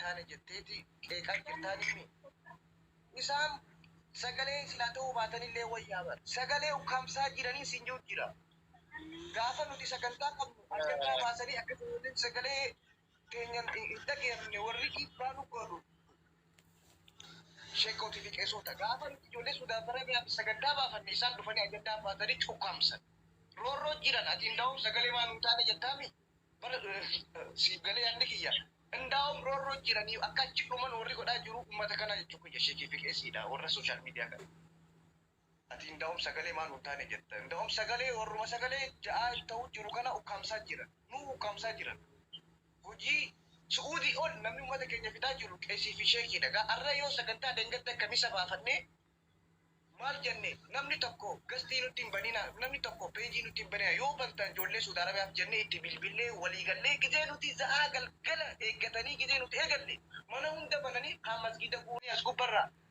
taane jetteeti qeeqaa jirtaan himi. Isaan sagalee silaa ta'uu baatanillee wayyaa bara. Sagalee ukkaamsaa jiranii siin jiru jira. Gaafa nuti sagantaa qabnu addaddaa baasanii akka sagalee keenyan hin dhageamne warri dhiibbaa nu godhu sheekootii fi qeesoota gaafa nuti ijoollee suudaaf arabiyaaf sagantaa baafanne isaan dhufanii ajandaa baatanii cukkaamsan roorroo jiran ati indaa'um sagalee maa nuu taane jettaami bara siif galee yaadni kiyya indaa'um roorroo jiranii akka achi dhuman warri godhaa jiru ummata kanaa jechuu kiyya sheekii fi qeesiidha warra sooshaal miidiyaa kana. Ati indaom sagalee maan hun taane jetta indaom sagalee warruma sagalee ja'aa ta'uu jiru kana ukkaamsaa jira nuu ukkaamsaa jiran hojii su'uudii ol namni ummata keenya fixaa jiru qesii fi sheekii dha gaa arra yoo sagantaa dhengadda kamisa baafannee maal jenne namni tokko gastii nutti hin banina namni tokko peejii nutti hin banina yoo bantan joollee suud arabiyaaf jennee itti bilbillee walii gallee gizee nuti za'aa galgala eeggatanii gizee nuti eegalle mana hunda bananii kaan masgiida guuranii as gubbarraa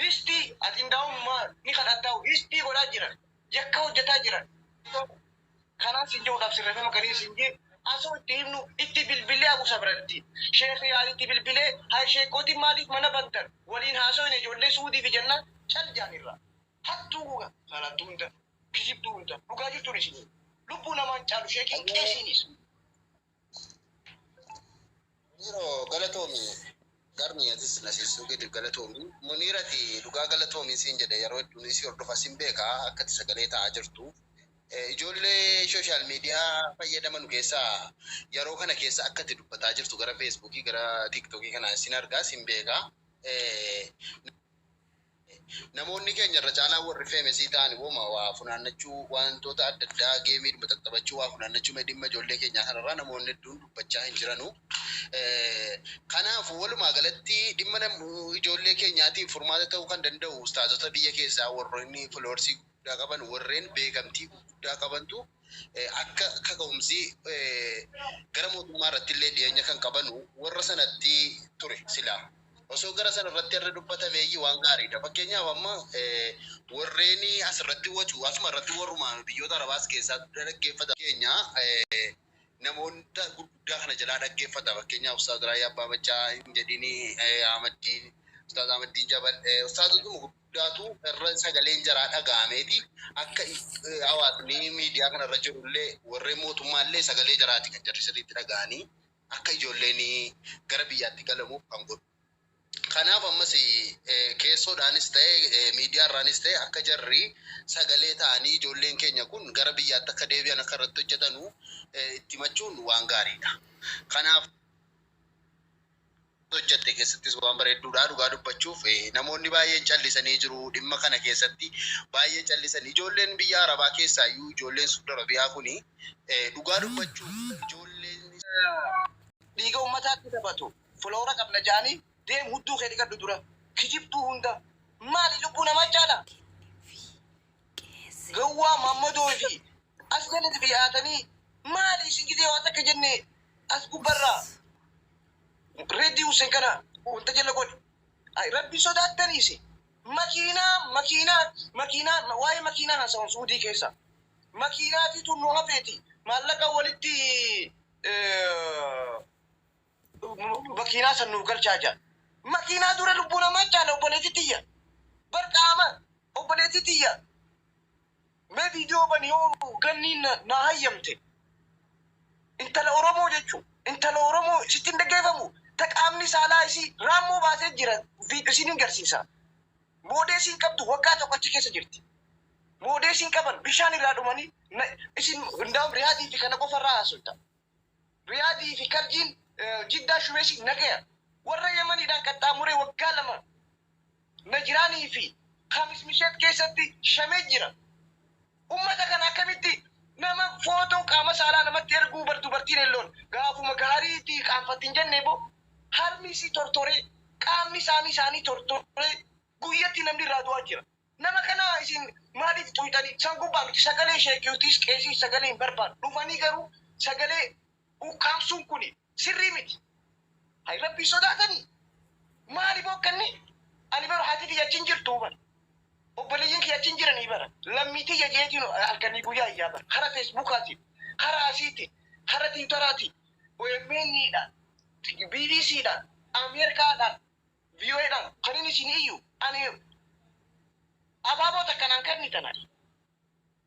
Hsdi ati indaawum ma ni kadhattaaw hsdi godhaa jiran yakka hojjataa jiran kanaan sin jehudhaaf sirrefema galii sin jee asoo itti himnu itti bilbilee abu sabran itti sheekh yaad itti bilbilee hay sheekkootin maaliif mana bantan waliin haasoyne ijoollee suudiifi jennaan cal jaan irraa hattuu goga salattuu hunda kijibduu hunda dhugaa jirtuun isinii lubbuu namaan caalu sheekiin qeesiinis Yeroo galatoomi garmi atis na siisuu keetiif galatoomi. Muniirati dhugaa galatoomi siin jedhe yeroo hedduun isii hordofa sin beeka akka itti sagalee ta'aa jirtu. Ijoollee social media fayyadamanu keessaa yeroo kana keessa akka itti dubbataa jirtu gara Facebook gara TikTok kana sin argaa sin beeka. Namoonni keenya irra caalaan warri feemesii ta'an woma waa funaannachuu waantoota adda addaa geemiidhuma xaxxabachuu waa funaannachuu mee dhimma ijoollee keenyaa kana irraa namoonni hedduun dubbachaa hin jiranu kanaaf walumaa galatti dhimma ijoollee keenyaatiif furmaata ta'uu kan danda'u ustaazota biyya keessaa warroonni floorsii guddaa qaban warreen beekamtii gurguddaa qabantu akka kaka'umsi gara mootummaa irrattillee dhiyeenya kan qabanu warra sanatti ture silaa osoo gara sana irratti irra dubbatameeyyi waan gaariidha fakkeenyaaf amma warreen as irratti wacu asuma irratti warruma biyyoota arabaa as keessaa guddaa dhaggeeffata keenya namoota gurguddaa kana jalaa dhaggeeffata fakkeenyaaf ustaaz Raayyaa Abbaa Maccaa hin jedhini Ahmaddiin ustaaz Ahmaddiin Jabal ustaazotuma gurguddaa guddaatu irra sagaleen jaraa dhaga'ameeti. Akka hawaasni miidiyaa kana irra jiru illee warreen mootummaa illee sagalee jaraati kan jarri sirriitti dhaga'anii akka ijoolleen gara biyyaatti galamuuf kan godhu. Kanaaf ammas keessoodhaanis ta'e miidiyaa irraanis ta'e akka jarri sagalee ta'anii ijoolleen keenya kun gara biyyaatti akka deebi'an akka irratti hojjetanu itti himachuun waan gaariidha. Kanaaf. hojjatte keessattis waan bareedduudha dhugaa dubbachuuf namoonni baay'een callisanii jiru dhimma kana keessatti baay'ee callisan ijoolleen biyya arabaa keessaa iyyuu ijoolleen suuda arabiyaa kun dhugaa dubbachuuf ijoolleen dhiiga ummataatti taphatu filoora qabna ja'anii deem hudduu kee dhiqadhu dura kijibduu hunda maali lubbuu namaa caala gawwaa maammadoo fi As jalati dhiyaatanii maali isin gizee waa takka jenne as gubba irraa Reddi Hussen kana wanta jala godhi. Ay Rabbi sodaattani isin. Makiinaa makiinaa makiinaa ma- waa'ee makiinaa haasa'uun Suudii keessa. Makiinaatiitu nu hafeeti maallaqa walitti eh, makiinaa san nuuf galchaa jira. Makiinaa dura lubbuu namaa caala obboleetti tiyya. Bar qaama obboleetti tiyya. Mee video bani yoo ganniin naa hayyamte intala oromoo jechuun intala oromoo sitti hin dhaggeeffamu ta qaamni saalaa isii raammoo baatee jira video isiin hin garsiisa moodeesii hin qabdu waggaa tokko achi keessa jirti moodeesii hin qaban bishaan irraa dhumanii isin hundaa'uun riyaadii fi kana qofa irraa haasofta Riyaadii fi Karjiin, Jiddaa Shumeesii nagaya warra Yamaniidhaan qaxxaamuree waggaa lama Najiraanii fi Khamis Misheet keessatti shamee jira. Ummata kana akkamitti nama footoo qaama saalaa namatti erguu bar dubartiin elloon gaafuma gaarii itti qaanfatti hin jennee boo harmi isii tortoree qaamni saanii isaanii tortoree guyyatti namni irraa du'aa jira. Nama kana isin maalif tuuytani san gubba miti sagalee sheek yutiis qeesiis sagalee hin barbaadu dhufanii garuu sagalee ukkaamsuun kuni sirrii miti hay rabbii sodaatani maali bookkanni ani bar hati tiyya achi hin jirtuu bar obboleyyin kiyya achi hin jiranii bar lammii tiyya jeetiin halkanii guyyaa iyyaa bar kara fesbukaatiin kara asiitiin kara tiwutaraatiin omn dhaan bbc dhaan ameerkaa dhaan VOA dhaan kanin isin iyyu ani abaaboo takka naan kannitan ani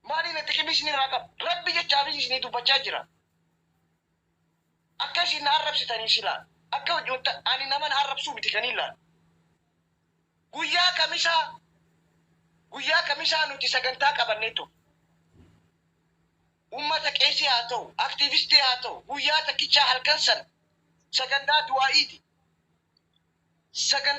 maaliin atti qimii isin irraa qaba rabbi jecha abiy isinii dubbachaa jira akka isin na arrabsitanii silaa akka hojii wanta ani nama na arrabsuu miti kaniin laal guyyaa kamisaa guyyaa kamisaa nuti sagantaa qabannee ture Ummata qeesii haa ta'u, aktiivistii haa ta'u, guyyaa takkichaa halkan sana sagantaa du'aa'iiti. Sagantaa.